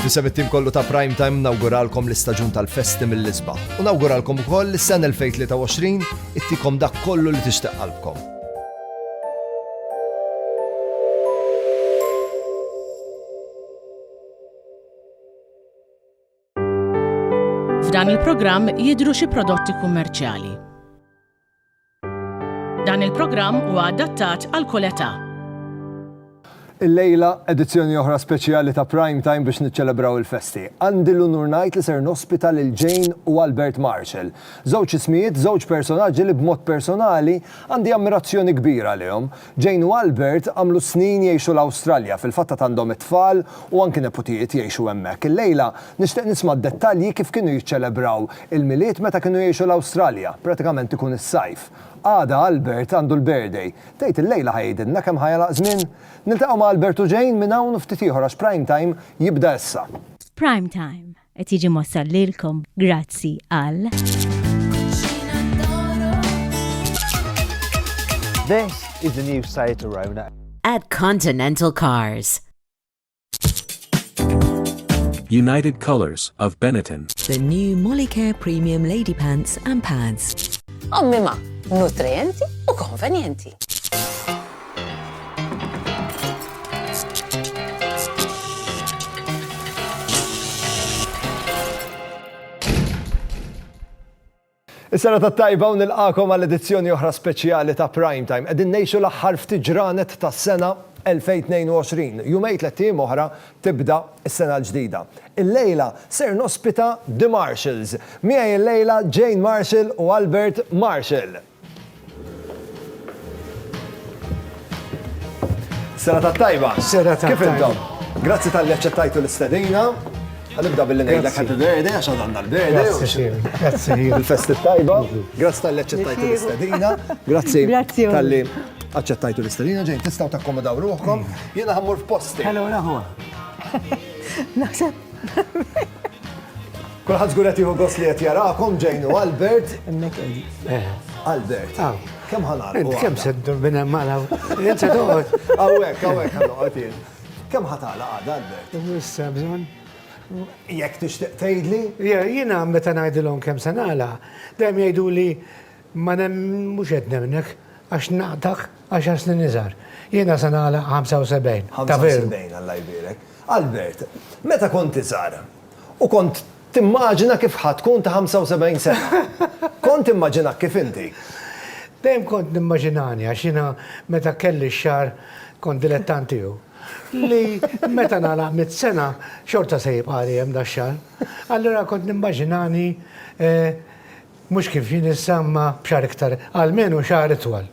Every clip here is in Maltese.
Fisem it-tim kollu ta' Prime Time nawguralkom l-istaġun tal-festi mill-isba. U nawguralkom ukoll is-sena 2023 ittikom dak kollu li tixtieq qalbkom. F'dan il-programm jidhru xi prodotti kummerċjali. Dan il-programm huwa adattat għal kull età. Illejla, edizzjoni oħra speċjali ta' Prime Time biex niċċelebraw il-festi. Għandi l-unur ngħid li ser nospita lil Jane u Albert Marshall. Żewġ ismijiet, żewġ personaġġi li b'mod personali għandi ammirazzjoni kbira għalihom. Jane u Albert għamlu snin jgħixu l-Awstralja, fil-fatt għad għandhom it-tfal u anki neputijiet jgħixu hemmhekk. Illejla nixtieq nisma' d-dettalji kif kienu jiċċelebraw il-Milied meta kienu jgħixu l-Awstralja, pratikament ikun is-sajf. Għada Albert għandu l-birthday. Tgħid illejla ħa jgħidilna kemm ħa jagħlaq żmien? Niltaqgħu ma' Albert u Jane minn hawn u ftit ieħor għax Prime Time jibda issa. Prime Time, Qed jiġi mossal lilkom grazzi għal. This is the new Seat Arona. At Continental Cars. United Colors of Benetton. The new Molicare Premium Lady Pants and Pads. Ommima, nutrienti u konvenjenti. Is-sena ta' tajba u nilqakom għal edizzjoni oħra speċjali ta' Prime Time. Qegħdin ngħixu l-aħħar ftit ġranet tas-sena 2022. Jumejn tliet ijiem oħra tibda s-sena l-ġdida. Illejla ser nospita The Marshalls. Miegħi illejla Jane Marshall u Albert Marshall. Sena ta' tajba. Sena ta' Kif intom? Grazzi tal-li ċettajtu l-istedina. Għanibda billi ngħidlek happy birthday għax għandna l-birthday. Grazzi. Il-festi tajba. Grazzi tal-li ċettajtu l-istedina. Grazzi tal-li aċċettajtu l-istedina ġejn tistgħu takkomodaw ruħkom. Jiena ħammur f'posti. Hello, naħwa. Naħseb Kulħadd żgur qed jieħu gost li qed jarakom Jane u Albert. Hemmhekk qegħdi. Eh. Albert. Aw. Kemm ħanar? Int kemm se ddur minn hemm għal hawn. Int se toqgħod. Hawnhekk, hawnhekk ħanoqgħod jien. Kemm ħatala għadha Albert? Issa bżonn. Jekk tixtieq tgħidli? Jiena meta ngħidilhom kemm se nagħla, dejjem jgħidu li Ma nemmen, mhux qed nemnek, għax naqtgħek għaxar snin iżgħar. Jiena se nagħlaq 75. Ta' veru. 75, Alla jbierek. Albert, meta kont iżgħar, u kont timmaġina kif ħa tkun ta' 75 sena? Kont timmaġinak kif inti? Dejjem kont nimmaġinani għax jiena meta kelli x-xagħar kont dilettant tiegħu. Li meta nagħlaq mitt sena xorta se jibqagħli hemm dax-xagħar. Allura kont nimmaġinani Mhux kif jien issa imma b'xahar iktar, almenu xahar itwal.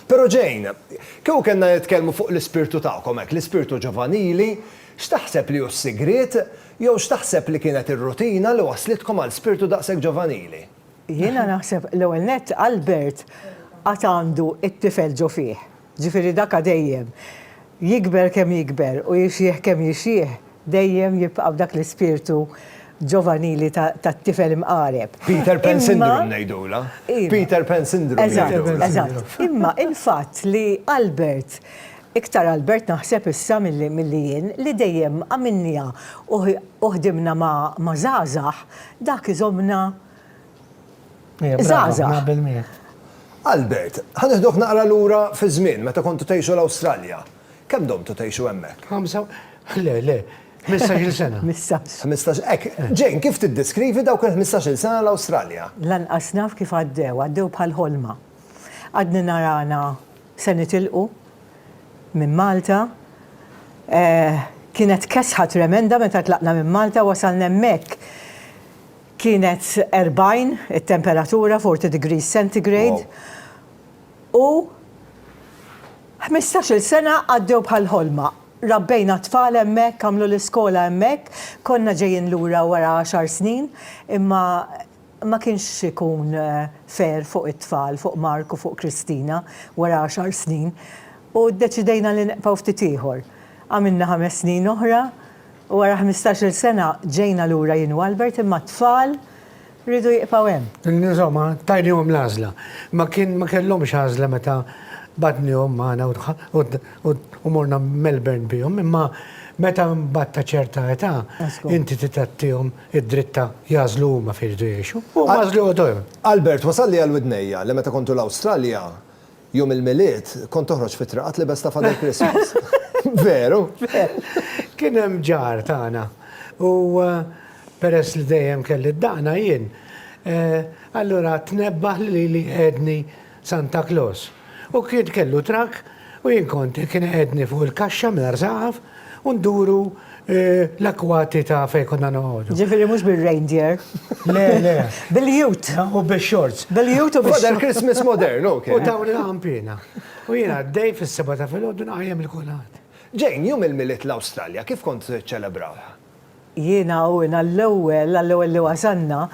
Però Jane, kieku kellna nitkellmu fuq l-ispirtu tagħkom hekk, l-ispirtu ġovanili, x'taħseb li hu s-sigriet, jew x'taħseb li kienet ir-rutina li wasslitkom għal spirtu daqshekk ġovanili? Jiena naħseb l-ewwel nett Albert għad għandu t-tifel ġo fih. Ġifieri daka dejjem, jikber kemm jikber u jixjieħ kemm jixjieħ, dejjem jibqa' b'dak l-ispirtu ġovanili ta' tifel imqareb. Peter Pan Syndrome ngħidulha. Peter Pan Syndrome ngħidulha. Eżatt, eżatt. Imma il-fatt li Albert, iktar Albert naħseb issa milli jien, li dejjem għamilniha u ħdimna ma' żgħażagħ, dak iżommna Żgħażagħ. Albert, ħa nieħduk naqra lura fiż-żmien meta kontu tgħixu l-Awstralja. Kemm domtu tgħixu hemmhekk? Ħamsa, le, le, ħmistax-il sena. Ħmistax. Ħmistax, hekk. Jane, kif tiddeskrivi dawk il-ħmistax-il sena l-Awstralja? Lanqas naf kif għaddew, għaddew bħal ħolma. Għadni narana se nitilqu minn Malta. Kienet kesħa tremenda meta tlaqna minn Malta, wasalna hemmhekk. Kienet 40 it-temperatura, 40 degrees centigrade, u ħmistax-il sena għaddew bħal ħolma. Rabbejna t-tfal hemmhekk, għamlu l-iskola hemmhekk, konna ġejjin lura wara għaxar snin, imma ma kienx ikun fair fuq it-tfal, fuq Mark u fuq Christina, wara għaxar snin, u ddeċidejna li nqbgħu ftit ieħor. Għamilna ħames snin oħra. U wara ħmistax-il sena ġejna lura jien u Albert imma t-tfal riedu jibqgħu hemm. Insomma, tajniehom l-għażla. Ma kien ma kellhomx għażla meta bagħtniehom magħna u morna Melbourne bihom imma meta mbagħad ta' ċerta età inti trid tagħtihom id-dritt ta' jagħżlu huma fejn jridu jgħixu. U huma għażlu joqogħdu hemm. Albert wasalli għal widnejja li meta kont u l-Awstralja Jum il-Milied kont toħroġ fit-triqat libes ta' Father Christmas. Veru? Kien hemm ġar tagħna u peress li dejjem kelli d-daqna jien, allura tnebbaħ li lili qiegħedni Santa Claus. U kien kellu trakk u jien kont kien iqiegħedni fuq il-kaxxa mingħajr saqaf u nduru L-akwati ta' fejn konna noqogħdu. Ġifieri mhux bir-reindeer. Le, le. Bil-jut. U bix-shorts. Bil-jut u bix-shorts. Għadha Christmas modern, ok. U tawni l-ħampina. U jien għaddej fis-seba' ta' filgħodu nqajjem il-kulħadd. Jane, jum il-Milied l-Awstralja, kif kont tiċċelebrawha? Jien hawn għall-ewwel, għall-ewwel li wasalna,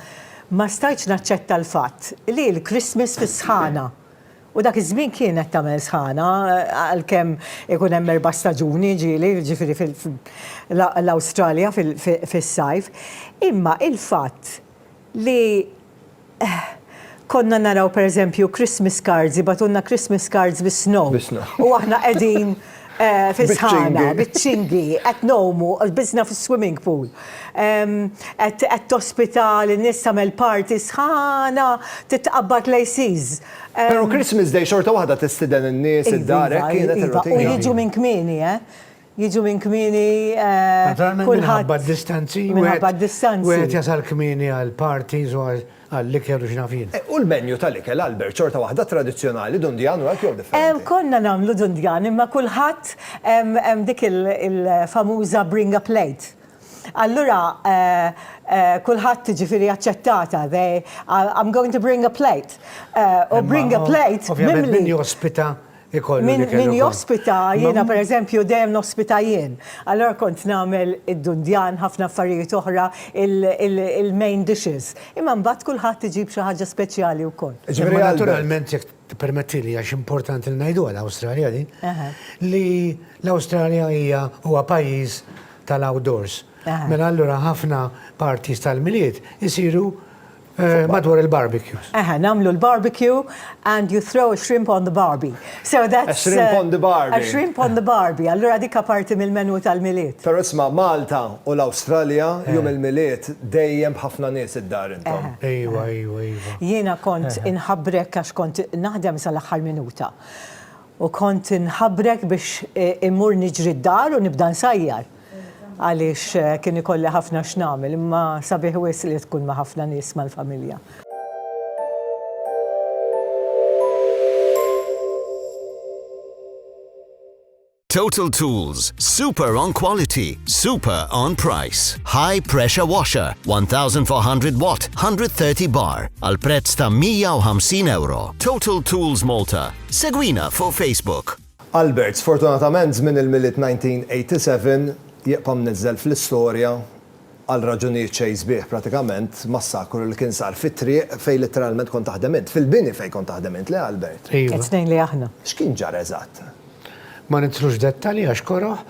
ma stajtx naċċetta l-fatt li l-Christmas fis-sħana. U dak iż-żmien kienet tagħmel sħana, għalkemm ikun hemm erba' staġuni, ġieli, jiġifieri fil-Awstralja fis-sajf. Imma il-fatt li konna naraw pereżempju Christmas cards, jibgħatulna Christmas cards bis-snow. U aħna qegħdin fis-sħana, biċ-ċingi, qed ngħumu, lbisna fis-swimming pool. Qed tospita lin-nies, tagħmel party sħana, titqabbad l-ACs. Pero Christmas Day xorta waħda tistiden in-nies id-dar hekk kienet iva, iva. ir-rutina. U jiġu minn kmieni, eh? Jiġu minn kmieni eh, kulħadd. Minħabba d-distanzi. Minħabba d-distanzi. Wieħed jasal kmieni għal parties u għall-ikel u x'nafin. Eh, u l-menju tal-ikel Albert xorta waħda tradizzjonali dundjan u hekk jew differenti. Konna nagħmlu dundjan imma kulħadd hemm dik il-famuża bring a plate. Allura kulħadd jiġifieri aċċettata, they, I'm going to bring a plate. U bring a plate mimli. Ovvjament min jospita jkollu l-ikel ukoll. Min jospita, jiena pereżempju dejjem nospita jien. Allura kont nagħmel id-dundjan, ħafna affarijiet oħra, il-main dishes. Imma mbagħad kulħadd iġib xi ħaġa speċjali wkoll. Imma naturalment jekk Ippermettili għax importanti li ngħidu għal Awstralja din, li l-Awstralja hija huwa pajjiż tal-outdoors. Mela allura ħafna parties tal-Milied isiru madwar il-barbecues. Eħe, nagħmlu l-barbecue and you throw a shrimp on the barbie. So that's A shrimp on the barbie. A shrimp on the barbie. Allura dik parti mill-menu tal-Milied. Però isma' Malta U l-Awstralja jum il-Milied dejjem b'ħafna nies id-dar intom. Ejwa, ejwa, ejwa. Jiena kont inħabbrek għax kont naħdem sal-aħħar minuta. U kont inħabbrek biex immur niġri d-dar u nibda nsajjar. Għaliex kien ikolli ħafna x'nagħmel, imma sabiħ wisq li tkun ma' ħafna nies mal-familja. Total Tools, super on quality, super on price. High pressure washer, 1400 watt, 130 bar, al prezz ta' 150 euro. Total Tools Malta. Segwina fuq Facebook. Albert, sfortunatament żmien il-Milied 1987 jibqa' mniżżel fl-istorja Għal raġunijiet xejn sbieħ pratikament massakru li kien sar fit-triq fejn litteralment kont taħdem int. Fil-bini fejn kont taħdem int, le Albert? Iva. It-tnejn li aħna. X'kien ġara eżatt? Ma nidħlux f'dettalji għax koroh.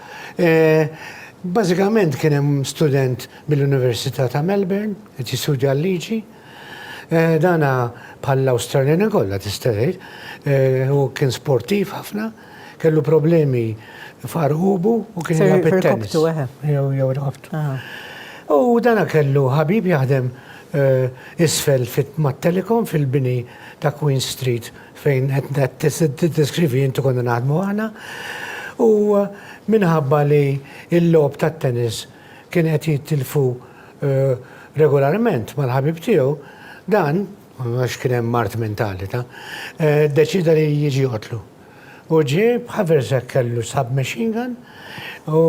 Bażikament kien hemm student mill-Università ta' Melbourne qed jistudja l-liġi. Dana bħall-Awstraljani kollha tista' tgħid. Hu kien sportiv ħafna. Kellu problemi f'għarqubu u kien jilgħab it-tennis. Jew jew raqabtu. U dana kellu ħabib jaħdem isfel mat-Telecom fil-bini ta' Queen Street fejn qed tiddeskrivi inti konna naħdmu aħna. U minħabba li l-logħob tat-tennis kien qed jittilfu regolarment mal-ħabib tiegħu, dan għax kien hemm mard mentali ta', ddeċieda li jiġi joqtlu. U ġie b'haversack kellu submachine gun u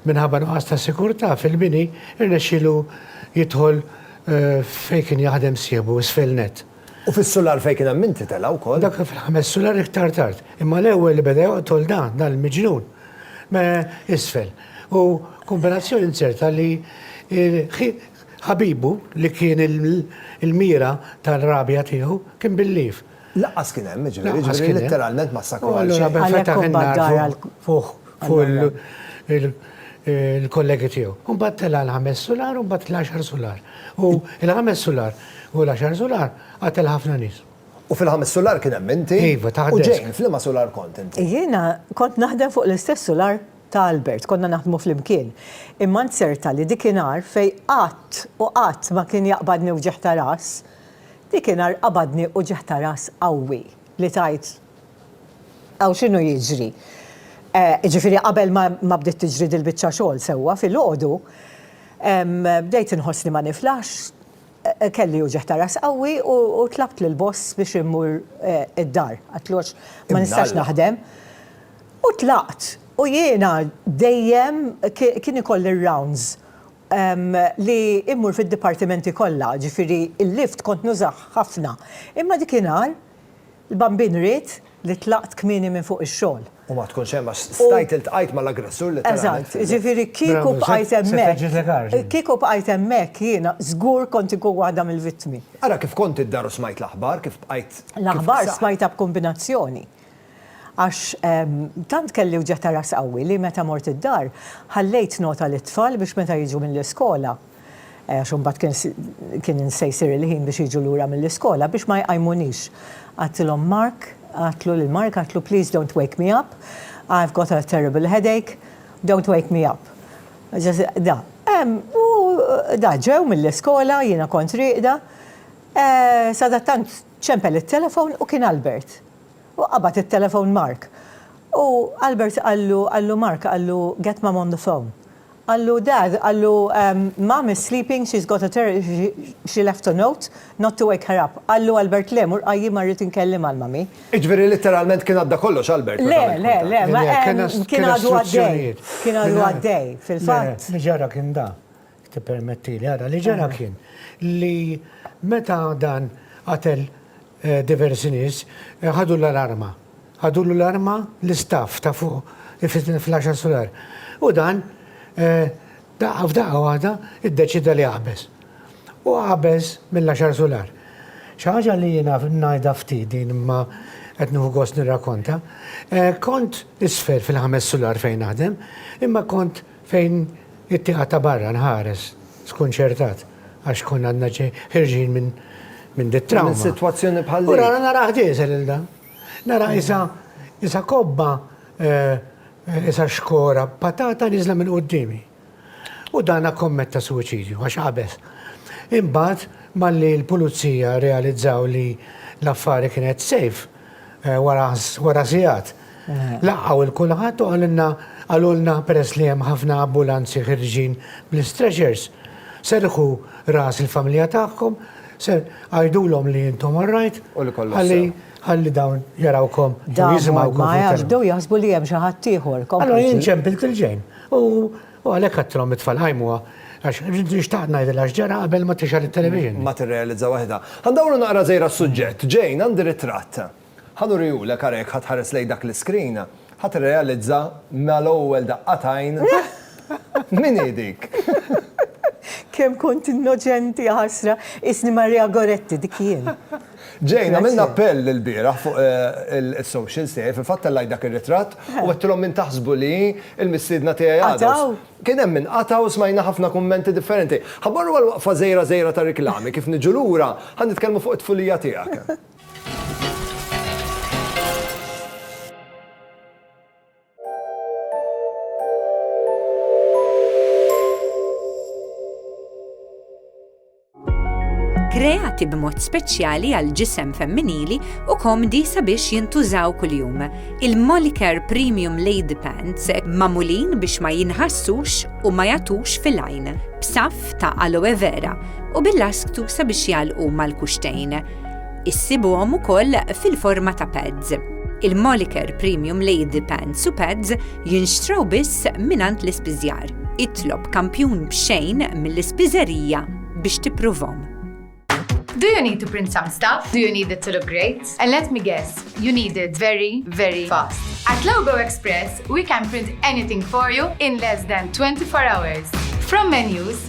minħabba nuqqas ta' sikurtà fil-bini rnexxielu jidħol fejn kien jaħdem sieħbu isfel nett. U fis-sular fejn kien hemm min titela' wkoll? Dak fil-ħames sular iktar tard. Imma l-ewwel li beda joqtol dan, dan il-miġnun, isfel. U kombinazzjoni inzerta li Ħabibu, li kien il-mira tar-rabja tiegħu, kien bil-lief. Lanqas kien hemm, jiġifieri, jiġifieri litteralment massakru għal xejn. U allura fetaħ in-nar fuq il-kollegi tiegħu. U mbagħad tela' l-ħames sular u mbagħad l-għaxar sular. U l-ħames sular u l-għaxar sular qatel ħafna nies. U fil-ħames sular kien hemm inti? Iva, taħt desk. U Jane, f'liema sular kont inti? Jiena kont naħdem fuq l-istess sular. ta' Albert, konna naħdmu flimkien. Imma nzerta li dik inhar fejn qatt u qatt ma kien jaqbadni wġigħ ta' ras, dik inhar qabadni uġigħ ta' ras qawwi li tgħid, Hawn x'inhu jiġri? Jiġifieri qabel ma bdiet tiġri dil-biċċa xogħol sewwa filgħodu, bdejt inħossni ma niflaħx, Kelli uġigħ ta' ras qawwi u tlabt lill-boss biex immur id-dar. Għidtlu għax ma nistax naħdem. U tlaqt. U jiena dejjem kien ikolli r-rounds li immur fid-dipartimenti kollha, ġifieri l-lift kont nużah ħafna. Imma dik inhar, L-bambin ried li tlaqt kmieni minn fuq ix-xogħol. U ma tkunx hemm għax stajt iltqajt mal-aggressur litteralment. Eżatt, jiġifieri kieku bqajt hemmhekk, kieku bqajt hemmhekk jiena żgur kont inkun waħda mill-vittmi. Ara kif kont id-dar u smajt l-aħbar, kif bqajt. L-aħbar smajtha b'kumbinazzjoni. Għax tant kelli wġegħ ta' ras qawwi li meta mort id-dar, ħallejt nota lit-tfal biex meta jiġu mill-iskola, għax imbagħad kien kien se jsir il-ħin biex jiġu lura mill-iskola biex ma jqajmunix. Għadtilhom Mark, għadtlu lil Mark għadtlu please don't wake me up, I've got a terrible headache, don't wake me up. Da. U da ġew mill-iskola, jiena kont rieqda, sadattant ċempel it-telefon u kien Albert. U qabad it-telefon Mark. U Albert qallu, qallu Mark, qallu get mum on the phone. Qallu, Dad, qallu, Mom is sleeping, she's got a ter she left a note not to wake her up. Qallu Albert, Le, mur qajjimha rrid inkellimha l-mummy. Iġifieri litteralment kien għadda kollox Albert meta għamilt kuntatt? Le, le, le, kien għadu għaddej, kien għadu għaddej fil-fatt. Li ġara kien dan, jekk tippermettili, ara, li ġara kien li meta dan qatel diversi nies, ħadu l-alarma. Ħadulu l-arma l-istaff ta' fuq fl-għaxar sular u dan daqqa f'daqqa waħda iddeċieda li jaqbeż. U qabeż mill-għaxar sular. Xi ħaġa li jiena ngħidha ftit din imma qed nieħu gost nirrakonta. Kont isfel fil-ħames sular fejn naħdem imma kont fejn it-tieqa ta' barra nħares skunċertat għax konna għadna ħirġin minn dit-trawma. Minn sitwazzjoni bħal dik. U rana narah diesel il-dan. Nara isa isa kobba isa xkora patata niżla minn qudiemi. U dana kommetta suwiċidju għax qabeż. Imbagħad malli l-pulizija realizzaw li l-affari kienet safe wara sigħat laqgħu lil kulħadd u qalilna qalulna peress li hemm ħafna abbulanzi ħirġin bl-istrexers serrħu ras il-familja tagħkom Ser għajdulhom li intom orrajt, U li kollox ħalli sew. ħalli dawn jarawkom u Damu jisimgħukom. ma fil-kelma. jafdew jaħsbu li hemm xi ħadd ieħor. Allora Kompli jien ġid. ċempilt il-ġejn. U u għalhekk għattilhom it-tfal qajmuha għax rrid nixtaq ngħidilha x'ġara qabel ma tixgħel it-television. Ma tirrealizza waħedha. Ħa ndawru naqra żejra s-suġġett. Jane, għandi ritratt. Ħa nuriehulek ara jekk ħa tħares lejn dak l-iskrin ħa tirrealizza mal-ewwel daqqa t'għajn min hi dik. Kemm kont innoċenti jaħasra, qisni Maria Goretti dik jien. Jane, għamilna appell ilbieraħ fuq is-socials tiegħi, fil-fatt tellajt dak ir-ritratt u għedtilhom min taħsbu li hi l-mistiedna tiegħi għada. Kien hemm min qata' u smajna ħafna kummenti differenti. Ħa mmorru għal waqfa żgħira żgħira ta' riklami, kif niġu lura ħa nitkellmu fuq it-tfulija tiegħek. kreati b'mod speċjali għal ġisem femminili u komdi sabiex jintużaw kuljum. Il-Moliker Premium Lady Pants mamulin biex ma jinħassux u ma jatux fil-għajn, b'saf ta' aloe vera u bil-lasktu sabiex jalqu mal-kuxtejn. Issibuhom ukoll fil-forma ta' pads. Il-Moliker Premium Lady Pants u Pads jinxtraw biss minant l-ispiżjar. Itlob kampjun b'xejn mill-ispiżerija biex tippruvhom. Do you need to print some stuff? Do you need it to look great? And let me guess, you need it very, very fast. At Logo Express, we can print anything for you in less than 24 hours. From menus,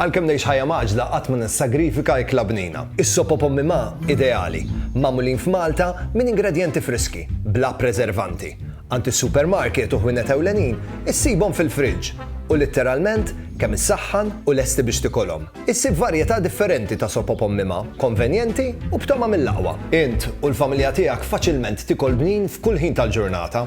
Għalkemm ngħix ħajja mgħaġġla qatt ma nissagrifika ikla bnina. Is-sop o pommi ma, ideali, magħmulin f'Malta minn ingredjenti friski, bla preservanti. Għand is-supermarket u ħwienet ewlenin issibhom fil-fridge u litteralment kemm issaħħan u lesti biex tikolhom. Issib varjetà differenti ta' sop o pommi ma, konvenjenti u b'togħma mill-aqwa. Int u l-familja tiegħek faċilment tikol bnin f'kull ħin tal-ġurnata.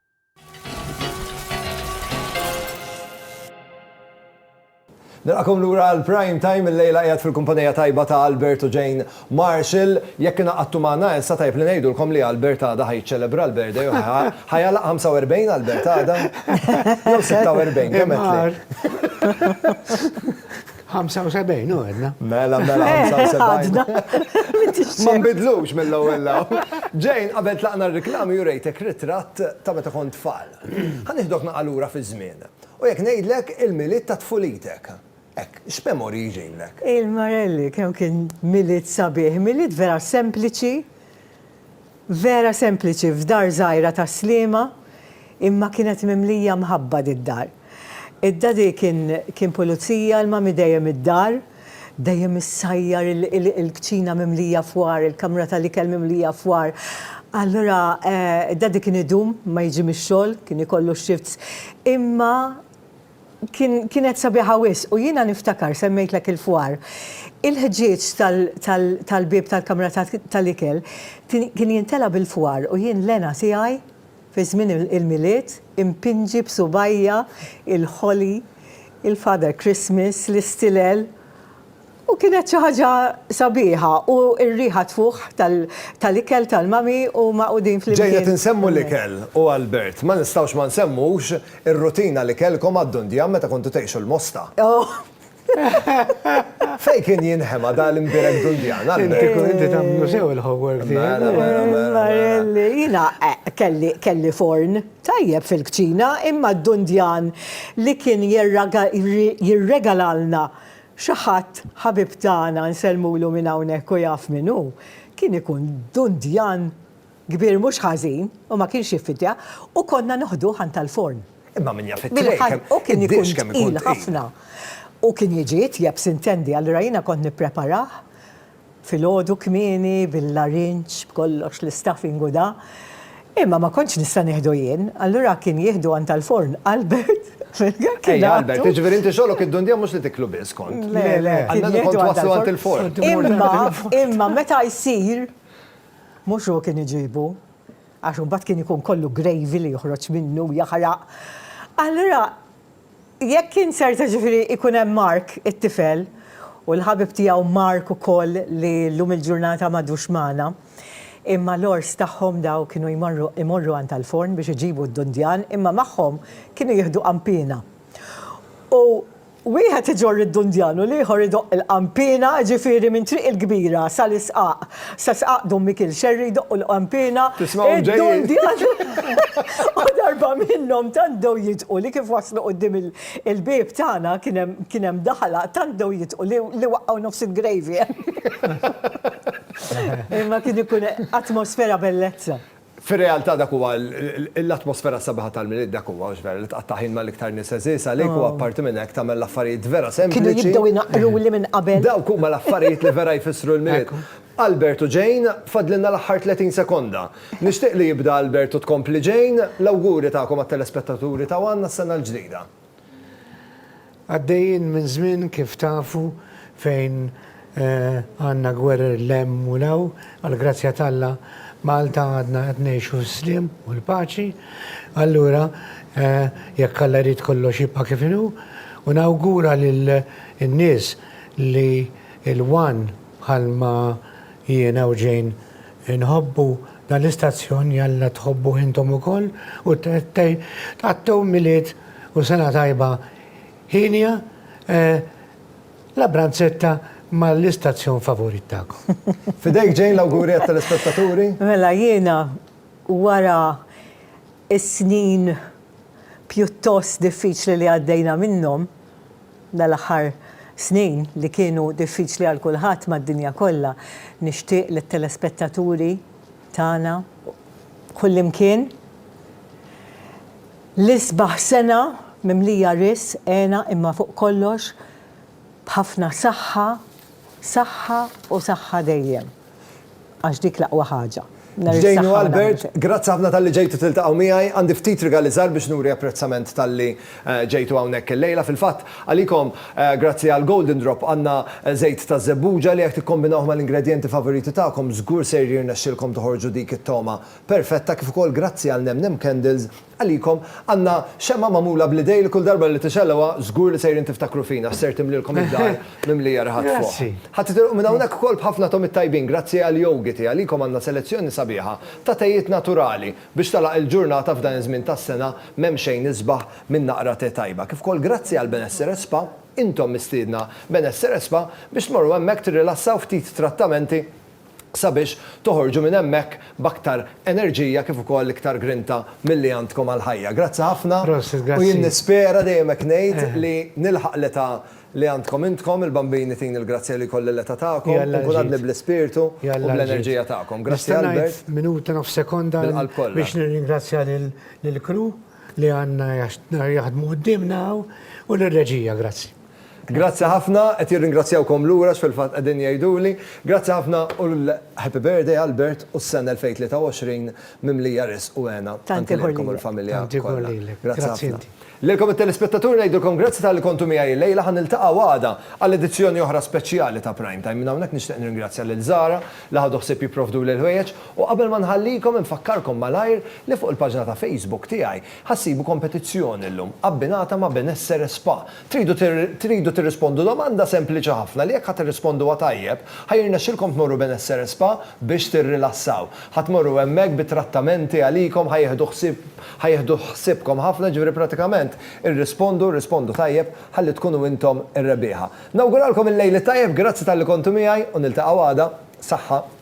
Nilqakom lura għal Prime Time il-lejla qiegħed fil-kumpanija tajba ta' Albert u Jane Marshall. Jekk ingħaqadtu magħna issa tajb li ngħidulkom li Albert għada ħa jiċċelebra l-birthday u ħajalaq 45 Albert għada. Jew 46 kemm qed. 75 u għedna. Mela, mela, 75. Ma nbidlux mill-ewwel law. Ġejn, qabel tlaqna r-riklami u rejtek ritratt ta' meta kont tfal. Ħa nieħdok naqgħa lura fiż-żmien. U jekk ngħidlek il-Milied ta' tfulitek. Hekk, x'memorji jġinlek? Il-Marelli, kemm kien Milied sabiħ. Milied vera sempliċi. Vera sempliċi f'dar żgħira tas-Sliema, imma kienet mimlija mħabba did-dar. Id-Daddy kien kien pulizija, il-Mummy dejjem id-dar, dejjem issajjar il-kċina mimlija fwar, il-kamra tal-ikel mimlija fwar. Allura Daddy kien idum ma jiġi mix-xogħol, kien ikollu x-shifts, imma kienet sabiħa wisq u jiena niftakar semmejtlek il-fwar. Il-ħġieġ tal-bieb tal-kamra tal-ikel kien jintela' bil-fwar u jien l-hena tiegħi fi żmien il-Milied impinġi b'subgħajja il-Holly, il-Father Christmas, l-istilel. U kienet xi ħaġa sabiħa u r-riħa tfuħ tal-ikel tal-mami u magħqudin flimkien. Ġejna tinsemmu l-ikel u Albert, ma nistgħux ma nsemmux ir-rutina li kellkom għad-Dundjan meta kontu tgħixu l-Mosta. Fejn kien jinħema dan l-imbierek Dundjan, Albert? Inti kont inti tagħmlu sew il-homework tiegħek. Mela, mela, mela. Marelli, jiena kelli forn tajjeb fil-kċina imma d-Dundjan li kien jirregalalna Xi ħadd, ħabib tagħna, nsellmulu minn hawnhekk u jaf min hu, kien ikun dundjan kbir mhux ħażin u ma kienx jiffidja u konna noħduh għand tal-forn. Imma min jaf it-trejn kemm iħaddmu. U kien ikun tqil ħafna. U kien jiġi jitjieb, s'intendi, allura jiena kont nippreparah Filgħodu kmieni, bil-larinġ, b'kollox, l-istaff ingudha. Imma ma kontx nista' nieħdu jien, allura kien jieħdu għand tal-forn Albert fil-għan kien Ejja, Albert, jiġifieri inti xogħlok id-dundija mhux li tiklu biss kont. Le, le, kien jieħdu għand tal-forn. Imma, imma meta jsir, mhux hu kien iġibu, għax imbagħad kien ikun kollu gravy li joħroġ minnu, jaħraq. Allura, Jekk inzerta ġifieri ikun hemm Mark it-tifel u l-ħabib tiegħu Mark ukoll li llum il-ġurnata m'għadux magħna. Imma l-għors tagħhom daw kienu jmorru imorru għand Alforn biex iġibu d-dundjan imma magħhom kienu jieħdu qanpiena. U wieħed iġorr id-dundjan u l-ieħor idoqq il-qanpiena ġifieri minn Triq il-Kbira sal-Isqaq Se sqaqdu Mikiel Scerri jdoqqu l-qanpiena, id-dun dijan u darba minnhom tant bdew jidħqu li kif waslu quddiem il-bieb tagħna kien hemm daħla tant bdew jidħqu li waqgħu nofs il-gravy. Imma kien ikun atmosfera bellezza. Fir-realtà dak huwa l-atmosfera sabiħa tal-Milied dak huwa, mhux vera, li tqatta' ħin mal-iktar nies għeżież għalik u apparti minn hekk tagħmel l-affarijiet vera sempliċi. Kienu jibdew inaqqruli minn qabel. Dawk huma l-affarijiet li vera jfissru l-Milied. Albert u Jane, fadlilna l-aħħar 30 sekonda. Nixtieq li jibda Albert u tkompli Jane, l-awguri tagħkom għat-telespettaturi ta' one għas-sena l-ġdida. Għaddejjin minn żmien kif tafu fejn għandna gwerer 'l hemm u 'l hawn, għall-grazzja t'Alla Malta għadna qed ngħixu fis-sliem u l-paċi. Allura jekk Alla jrid kollox jibqa' kif inhu u nawgura lin-nies li l-one bħalma jiena u Jane Inħobbu dan l-istazzjon jalla tħobbuh intom ukoll u tgħattew Milied u Sena Tajba hienja La Branzetta ma' l-istazzjon favorit tagħkom. F'idejk Jane l-awguri għat-telespettaturi. Mela jiena wara s-snin pjuttost diffiċli li għaddejna minnhom, dal-aħħar snin li kienu diffiċli għal kulħadd mad-dinja kollha, nixtieq lit-telespettaturi tagħna kullimkien l-isbaħ sena mimlija risq, hena imma fuq kollox b'ħafna saħħa, saħħa u saħħa dejjem. Għax dik l-aqwa ħaġa. Jane u Albert, grazzi ħafna talli ġejtu tiltaqgħu miegħi. Għandi ftit rigali żgħar biex nuri apprezzament talli ġejtu hawnhekk illejla. Fil-fatt, għalikom, grazzi għal Golden Drop, għandna żejt ta' żebbuġa li jekk tikkombinawh mal-ingredjenti favoriti tagħkom, żgur ser jirnexxilkom toħorġu dik it-togħma perfetta kif ukoll grazzi għal Nem Nem Candles, Għalikom, għandna xemgħa magħmula bl-idejn li kull darba li tixegħluha, żgur li sejrin tiftakru fina għax ser timlielkom id-dar mimlija riħat fuħ. Ħa titilqu minn hawnhekk ukoll b'ħafna togħmiet tajbin grazzi għall-jogiti. Għalikom għandna selezzjoni sabiħa ta' tejiet naturali biex tagħlaq il-ġurnata f'dan iż-żmien tas-sena m'hemm xejn isbaħ minn naqra te tajba. Kif ukoll grazzi għal Benessere Spa, intom mistiedna Benessere Spa biex tmorru hemmhekk tirrilassaw ftit trattamenti sabiex toħorġu minn hemmhekk b'aktar enerġija kif ukoll iktar grinta milli għandkom għall-ħajja. Grazzi ħafna. Prosit, grazzi. U jien nispera, dejjem hekk ngħid, li nilħaq l-età li għandkom intkom, il-bambini tini l-grazzja li jkolli l-età tagħkom u nkun għadni bl-ispirtu u bl-enerġija tagħkom. Grazzi Albert. Nista' ngħid minuta nofs sekonda biex nirringrazzja lill-crew li għandna jaħdmu quddiemna hawn u lir-reġija. Grazzi. Grazzi ħafna, qed jirringrazzjawkom lura x'fil-fatt qegħdin jgħiduli. Grazzi ħafna u l-Happy Birthday Albert u s-sena 2023 mimlija riżq u hena anke lilkom u l-familja kollha. Grazzi ħafna. Lilkom it-telespettaturi ngħidilkom grazzi talli kontu miegħi llejla, ħa niltaqgħu għada għal edizzjoni oħra speċjali ta' Prime Time. Minn hawnhekk nixtieq nirringrazzja lil Zahra li ħadu ħsieb jipprovduli l-ħwejjeġ u qabel ma nħallikom infakkarkom malajr li fuq il-paġna ta' Facebook tiegħi Ħa ssibu kompetizzjoni llum, abbinata ma' benessere spa. Tridu tridu tirrispondu domanda sempliċi ħafna li jekk ħa tirrisponduha tajjeb, ħa jirnexxilkom tmorru benessere spa biex tirrilassaw. Ħa tmorru hemmhekk bi trattamenti għalikom, ħa jieħdu ħsieb ħa jieħdu ħsiebkom ħafna, jiġifieri pratikament irrispondu, irrispondu tajjeb ħalli tkunu intom ir-rebbieħa. Nawguralkom il-lejl it-tajjeb, grazzi talli kontu miegħi u niltaqgħu għada. Saħħa.